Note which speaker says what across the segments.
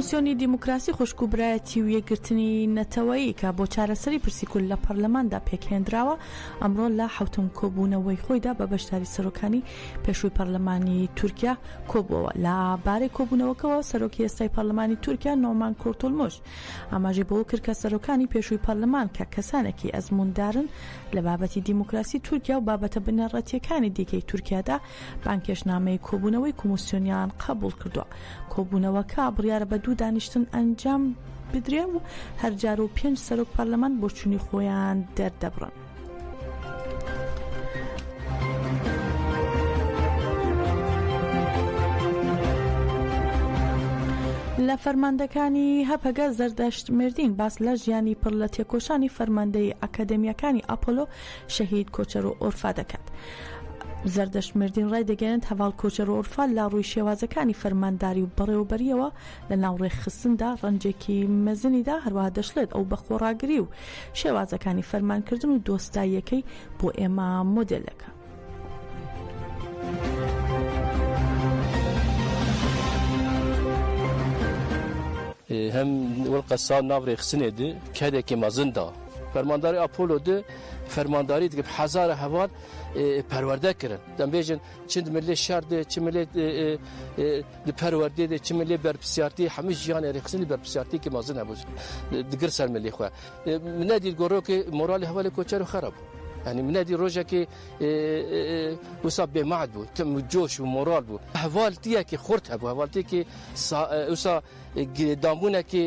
Speaker 1: کۆمسیۆنی دیموکراسی خوشک و برایەتی و یەکگرتنی نەتەوەیی کە بۆ چارەسەری پرسی کول لە پەرلەماندا پێکهێنراوە ئەمڕۆ لە حوتم کۆبوونەوەی خۆیدا بە بەشداری سەرۆکانی پێشووی پەرلەمانی تورکیا کۆبووەوە لە بارەی کۆبوونەوەکەەوە سەرۆکی ئێستای پەرلەمانی تورکیا نۆمان کورتولمش ئاماژەی بەوەکرد کە سەرۆکانی پێشووی پەرلەمان کە کەسانێکی ئەزمووندارن لە بابەتی دیموکراسی تورکیا و بابەتە بنەڕەتیەکانی دیکەی تورکیادا بانکێشنامەی کۆبوونەوەی کۆمسیۆنیان قبول کردووە کۆبوونەوەکە بڕیارە بە دوو دانیشتن ئەنجام بدرێ و هەرجار و پێنج سەرۆک پەرلەمان بۆچوونی خۆیان دەردەبڕن. لە فەرماندەکانی هەپەگە زەردەشت مردین باس لە ژیانی پڕ لە تێکۆشانی فەرماندەی ئەکادمیەکانی ئاپۆلۆ شەهید کۆچەر و ئۆرفا دەکات. زەردەشمردین ڕای دەگەێنێت هەواڵ کۆچەر و ئۆرفا لە ڕووی شێوازەکانی فەرمانداری و بەڕێوەبەریەوە لە ناو ڕێکخستندا ڕەنجێکی مەزنی دا، هەروەها دەشڵێت ئەو بە خۆڕاگری و شێوازەکانی فەرمانکردن و دۆستاییەکەی بۆ ئێمە مۆدێلێکە.
Speaker 2: هەم وەل قەسان ناو ڕێخستنێ دی کارێکی مەزن دا. فەرمانداری ئاپۆلۆ دی فەرمانداری دگە حەزارە هەوار پەروەردە کردن دەمبێژن چ ملێ شار دێ چ ملێ پەروەردێ دێ چ ملێ بەرپسیارتی هەموو ژیان ێریخسنی بەرپسیارتێکی مازن هەبوو دگر سەر ملی خۆ منە دیت گۆڕۆکی مۆرالی هەوالی کۆچەر و خراپ بوو ینی منە دی ڕۆژێکی وسا بێمات بوو تم جۆش و مۆرال بوو هەواڵتیەکی خورد هەبوو هەواڵتێکی وسا دامونەکی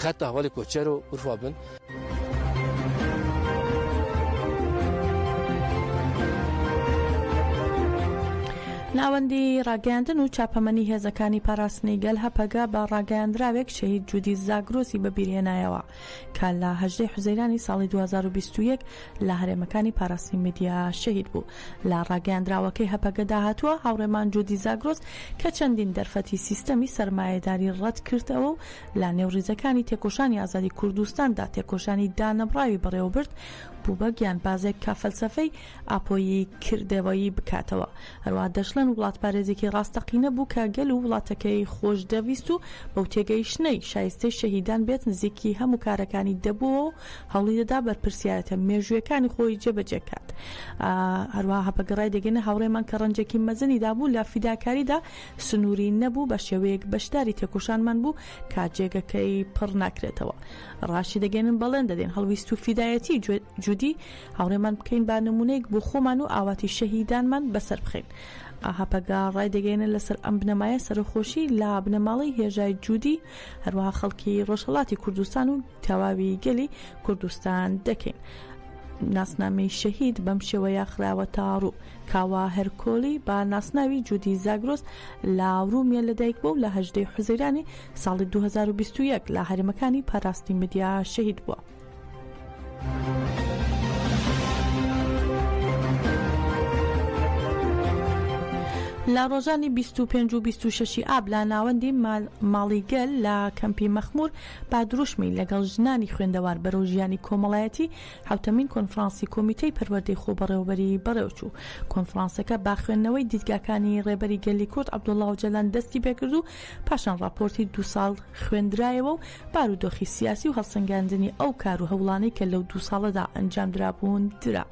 Speaker 2: خەتە هەواڵی کۆچەر و ورفا بن.
Speaker 1: ناوەندی ڕاگەاندن و چاپەمەنی هێزەکانی پاراستنی گەل هەپەگە بە ڕاگەاندراوێک شەهید جودی زاگرۆسی بەبیرهێنایەوە کە لە هەژدەی حوزەیرانی ساڵی 2021 لە هەرێمەکانی پاراستنی میدیا شەهید بوو لە ڕاگەیاندراوەکەی هەپەگەدا هاتووە، هاوڕێمان جودی زاگرۆس کە چەندین دەرفەتی سیستەمی سەرمایەداری ڕەتکردەوە و لە نێو ڕیزەکانی تێکۆشانی ئازادی کوردستاندا تێکۆشانی دانەبڕاوی بەڕێوەبرد، بوو بە گیانبازێک کە فەلسەفەی ئاپۆیی کردەوەیی بکاتەوە. هەروەها دەشڵێن وڵاتپارێزێکی ڕاستەقینە بوو کە گەل و وڵاتەکەی خۆشدەویست و بەو تێگەیشتنەی شایستەی شەهیدان بێت نزیکی هەموو کارەکانی دەبووەوە و هەوڵیدەدا بەرپرسیارێتە مێژوویەکانی خۆی جێبەجێکات. هەروەها هەپەگە ڕایدەگەینە هاوڕێمان کە ڕەنجێکی مەزنی دابوو لە فیداکاریدا سنووری نەبوو بەشێوەیەک بەشداری تێکۆشانمان بوو کە جێگەکەی پڕ ناکرێتەوە. ڕاشیدەگەێنن بەڵێن دەدەین هەڵویست و فیدایەتی جودی هاوڕێمان بکەین با نموونەیەک بۆ خۆمان و ئاواتی شەهیدانمان بەسەر بخەین. هەپەگە ڕایدەگەێنن لەسەر ئەم بنەمایە سەرەخۆشی لە بنەماڵەی هێژای جودی هەروەها خەڵکی ڕۆژهەڵاتی کوردستان و تەواوی گەلی کوردستان دەکەین. ناسنامەی شەهید بەم شێوەیە خراوە تاڕوو کاوا هەرکۆلی با ناسناوی جودی زاگرۆس لە ڕوومیە لەدایک بوو لە هەژدەی حوزەیرانی ساڵی 2021 لە هەرمەکانی پاراستی مدیا شەهید بووە. لە ڕۆژانی 25 و 26 ئاب لە ناوەندی ماڵی گەل لە کەمپی مەخمور با دروشمی، لەگەڵ ژنانی خوێندەوار بەرەو ژیانی کۆمەڵایەتی، حەوتەمین کۆنفرانسی کۆمیتەی پەروەردەی خۆبەڕێوەبەری بەڕێوەچوو. کۆنفرانسەکە با خوێندنەوەی دیدگاکانی ڕێبەری گەلی کورد عەبدوڵا ئۆجالان دەستی پێکرد و پاشان ڕاپۆرتی دوو ساڵ خوێندرایەوە و بارودۆخی سیاسی و هەڵسەنگاندنی ئەو کار و هەوڵانەی کە لەو دوو ساڵەدا ئەنجامدرابوون درا.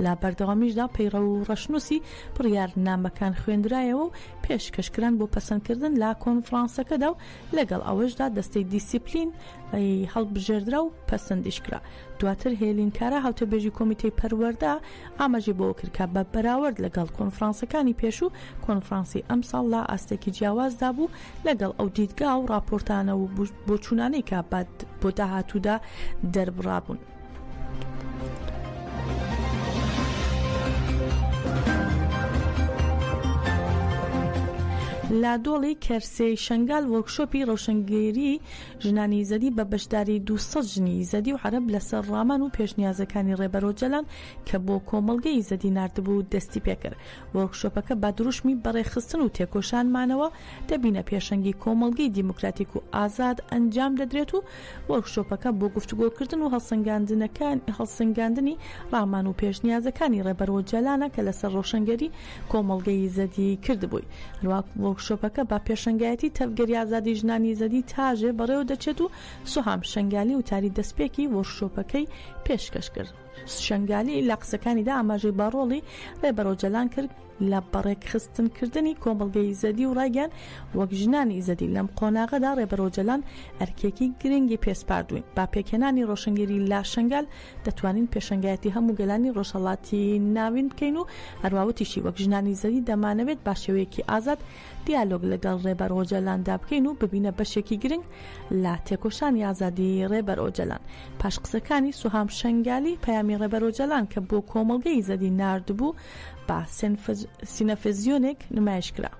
Speaker 1: لە بەردەوامیشدا پەیڕەو و ڕەشنووسی بڕیارنامەکان خوێندرایەوە و پێشکەشکران بۆ پەسەندکردن لە کۆنفرانسەکەدا و لەگەڵ ئەوەشدا دەستەی دیسیپلین ی هەڵبژێردرا و پەسندیش کرا. دواتر هێلین کارا هاوتەبێژی کۆمیتەی پەروەردە ئاماژەی بەوە کرد کە بە بەراورد لەگەڵ کۆنفرانسەکانی پێشوو کۆنفرانسی ئەمساڵ لە ئاستێکی جیاوازدا بوو لەگەڵ ئەو دیدگا و ڕاپۆرتانە و بۆچوونانەی کە بۆ داهاتوودا دەربڕابوون. لە دۆڵی کەرسێی شنگال وۆرکشۆپی ڕەوشنگەیری ژنانی یزەدی بە بەشداری 200 ژنی یزەدی و عرب لەسەر ڕامان و پێشنیازەکانی ڕێبەرۆ جەلان کە بۆ کۆمەڵگەی یزەدی نردبوو دەستی پێکرد وۆرکشۆپەکە بە دروشمی بەڕێخستن و تێکۆشانمانەوە دەبینە پێشەنگی کۆمەڵگەی دیموکراتیک و ئازاد ئەنجام دەدرێت و وۆرکشۆپەکە بۆ گفتوگۆکردن و هەڵسەنگاندنی ڕامان و پێشنیازەکانی ڕێبەر ئۆجالانە کە لەسەر ڕۆشنگەری کۆمەڵگەی یزەدی کردبووی. هەروەها وۆرکشۆپەکە بە پێشەنگایەتی تەڤگەری ئازادی ژنانی یزەدی تاژێ بەڕێوەدەچێت و سوهام شەنگالی وتاری دەستپێکی وۆرکشۆپەکەی پێشکەش کرد. شەنگالی لە قسەکانیدا ئاماژەی بە ڕۆڵی ڕێبەر ئۆجەلان کرد لە بەڕێکخستنکردنی کۆمەڵگەی ئیزەدی و ڕایگەیاند، وەک ژنانی ئیزەدی لەم قۆناغەدا ڕێبەر ئۆجەلان ئەرکێکی گرنگی پێسپاردووین، بە پێکهێنانی ڕۆشنگەری لە شەنگال دەتوانین پێشەنگایەتی هەموو گەلانی ڕۆژهەڵاتی ناوین بکەین و هەروا وتیشی، وەک ژنانی ئیزەدی دەمانەوێت بە شێوەیەکی ئازاد دیالۆگ لەگەڵ ڕێبەر ئۆجەلاندا بکەین و ببینە بەشێکی گرنگ لە تێکۆشانی ئازادی ڕێبەر ئۆجەلان پاش قسەکانی سوهام شەنگالی پەیامی ڕێبەر ئۆجەلان کە بۆ کۆمەڵگەی زەدی ناردبوو بە سینەفزیۆنێک نمایش کرا.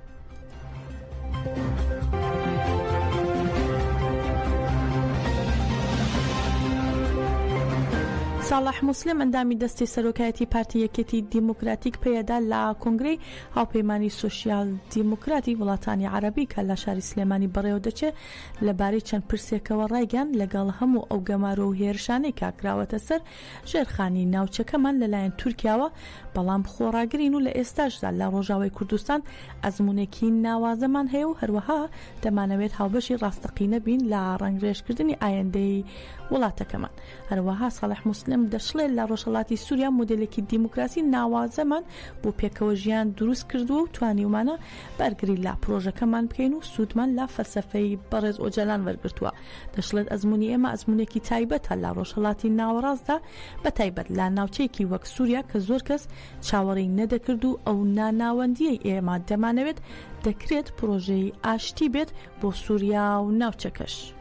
Speaker 1: ساڵح موسلیم ئەندامی دەستی سەرۆکایەتی پارتی یەکێتی دیموکراتیک پەیەدە لە کۆنگرەی هاوپەیمانیی سۆسیال دیموکراتی وڵاتانی عەرەبی کە لە شاری سلێمانی بەڕێوە دەچێ، لە بارەی چەند پرسێکەوە ڕایگەیاند، لەگەڵ هەموو ئەو گەمارۆ و هێرشانەی کە کراوەتە سەر ژێرخانی ناوچەکەمان لە لایەن تورکیاوە، بەڵام خۆڕاگرین و لە ئێستاشدا لە ڕۆژاوای کوردستان ئەزموونێکی ناوازەمان هەیە و هەروەها دەمانەوێت هاوبەشی ڕاستەقینە بین لە ڕەنگڕێژ کردنی ئایندەی وڵاتەکەمان. هەروەها ساڵح موسلم دەشڵێ، لە ڕۆژهەڵاتی سووریا مۆدێلێکی دیموکراسی ناوازەمان بۆ پێکەوە ژیان دروست کردووە و توانیومانە بەرگری لە پرۆژەکەمان بکەین و سوودمان لە فەلسەفەی بەڕێز ئۆجالان وەرگرتووە. دەشڵێت ئەزموونی ئێمە ئەزموونێکی تایبەتە لە ڕۆژهەڵاتی ناوەڕاستدا بە تایبەت لە ناوچەیەکی وەک سووریا کە زۆر کەس چاوەڕێی نەدەکرد و ئەو ناناوەندییەی ئێمە دەمانەوێت دەکرێت پرۆژەی ئاشتی بێت بۆ سووریا و ناوچەکەش.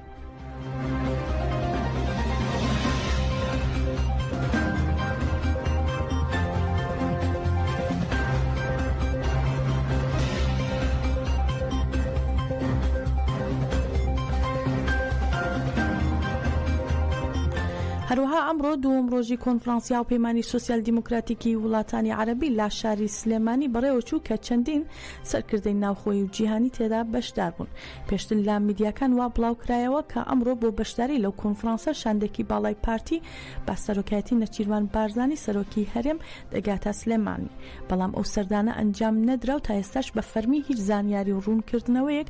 Speaker 1: هەروەها ئەمڕۆ دووەم ڕۆژی کۆنفرانسیا و پەیمانانی سوسیال دیموکراتیکی وڵاتانی عربی لا شاری سلێمانی بەڕێوەچوو کە چەندین سەرکردەی ناوخۆی و جیهانی تێدا بەشدار بوون پێشتر لە میدیاکان وا بڵاوکرایەوە کە ئەمڕۆ بۆ بەشداری لەو کۆنفرانسە شاندێکی باڵای پارتی بە سەرۆکایەتی نەچیرڤان بارزانی سەرۆکی هەرێم دەگاتە سلێمانی بەڵام ئەو سەردانە ئەنجام نەدرا و تا ئێستاش بە فەرمی هیچ زانیاری و ڕوونکردنەوەیەک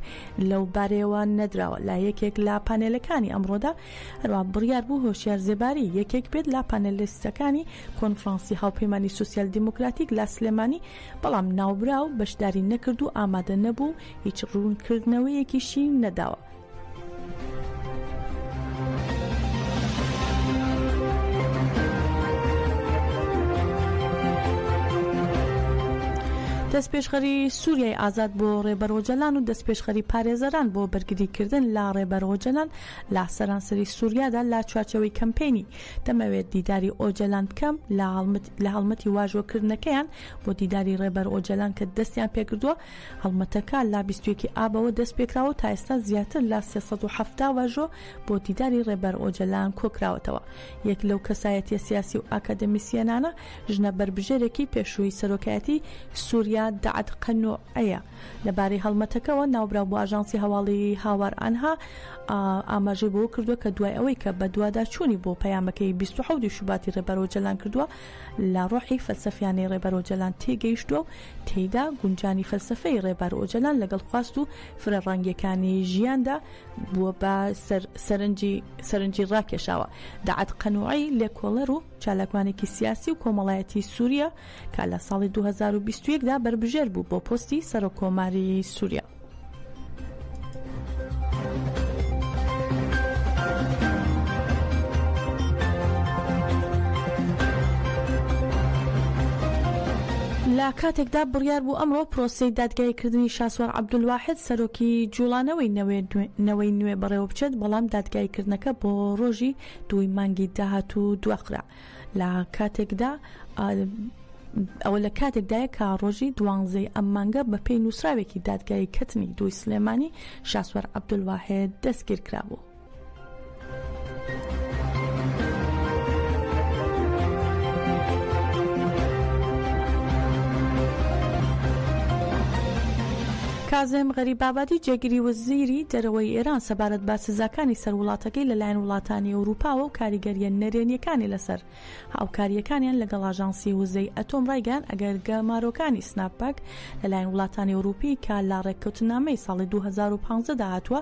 Speaker 1: لەو بارەیەوە نەدراوە لە یەکێک لە پانێلەکانی ئەمڕۆدا هەروە بڕیار بوو هۆشیار زێباری یەکێک بێت لە پانێلیستەکانی کۆنفرانسی هاوپەیمانی سوسیال دیموکراتیک لە سلێمانی بەڵام ناوبراو بەشداری نەکرد و ئامادە نەبوو هیچ ڕوونکردنەوەیەکیشی نەداوە. دەستپێشخەری سووریای ئازاد بۆ ڕێبەر ئۆجەلان و دەستپێشخەری پارێزەران بۆ بەرگریکردن لە ڕێبەر ئۆجەلان لە سەرانسەری سووریادا لە چوارچەوەی کەمپینی دەمەوێت دیداری ئۆجەلان بکەم لە هەڵمەت لە هەڵمەتی واژۆ کردنەکەیان بۆ دیداری ڕێبەر ئۆجەلان کە دەستیان پێکردووە هەڵمەتەکە لە بیست و یەک ی ئابەوە دەست پێکراوە و تا ئێستا زیاتر لە سێ سەد و حەفتا واژۆ بۆ دیداری ڕێبەر ئۆجەلان کۆکراوەتەوە یەک لەو کەسایەتیە سیاسی و ئاکادمیسیەنانە ژنە بەربژێرێکی پێشووی سەرۆکایەتی سوریا دەعد قەنوعەیە لەبارەی هەڵمەتەکەوە، ناوبراو بۆ ئاژانسی هەواڵی هاوار ئانها ئاماژەی بەوە کردووە کە دوای ئەوەی کە بەدواداچوونی بۆ پەیامەکەی بیست و حەوت ی شوباتی ڕێبەر ئۆجەلان کردووە، لە ڕۆحی فەلسەفیانەی ڕێبەر ئۆجەلان تێگەیشتووە و تێیدا گونجانی فەلسەفەی ڕێبەر ئۆجەلان لەگەڵ خواست و فرەڕەنگییەکانی ژیاندا بووە بە سەرنجی ڕاکێشاوە. داعەت قەنوعی، لێکۆڵەر و چالاکوانێکی سیاسی و کۆمەڵایەتیی سوورییە، کە لە ساڵی دوو هەزار و بیست و یەک دا بەربژێر بوو بۆ پۆستی سەرۆک کۆماری سووریا. لە کاتێکدا بڕیار بوو ئەمڕۆ پرۆسەی دادگایی کردنی شاسوار عەبدولواحد سەرۆکی جوڵانەوەی نەوەی نوێ بەڕێوە بچێت بەڵام دادگایی کردنەکە بۆ ڕۆژی دووی مانگی داهاتوو دواخرا لە کاتێکدا ئەوە لە کاتێکدایە کە ڕۆژی دوانزەی ئەم مانگە بە پێی نووسراوێکی دادگایی کەتنی دوی سلێمانی شاسوەر عبدولواهەیە دەستگیر کرابوو. کازم غەریبابادی جێگری وەزیری دەرەوەی ئێران سەبارەت بە سزاکانی سەر وڵاتەکەی لەلایەن وڵاتانی ئەوروپاوە و کاریگەرییە نەرێنییەکانی لەسەر هاوکارییەکانیان لەگەڵ ئاژانسی وزەی ئەتۆم ڕایگەیاند ئەگەر گەمارۆکانی سناپەک لەلایەن وڵاتانی ئەوروپی کە لە ڕێککەوتننامەی ساڵی دوو هەزار و پازدە دا هاتووە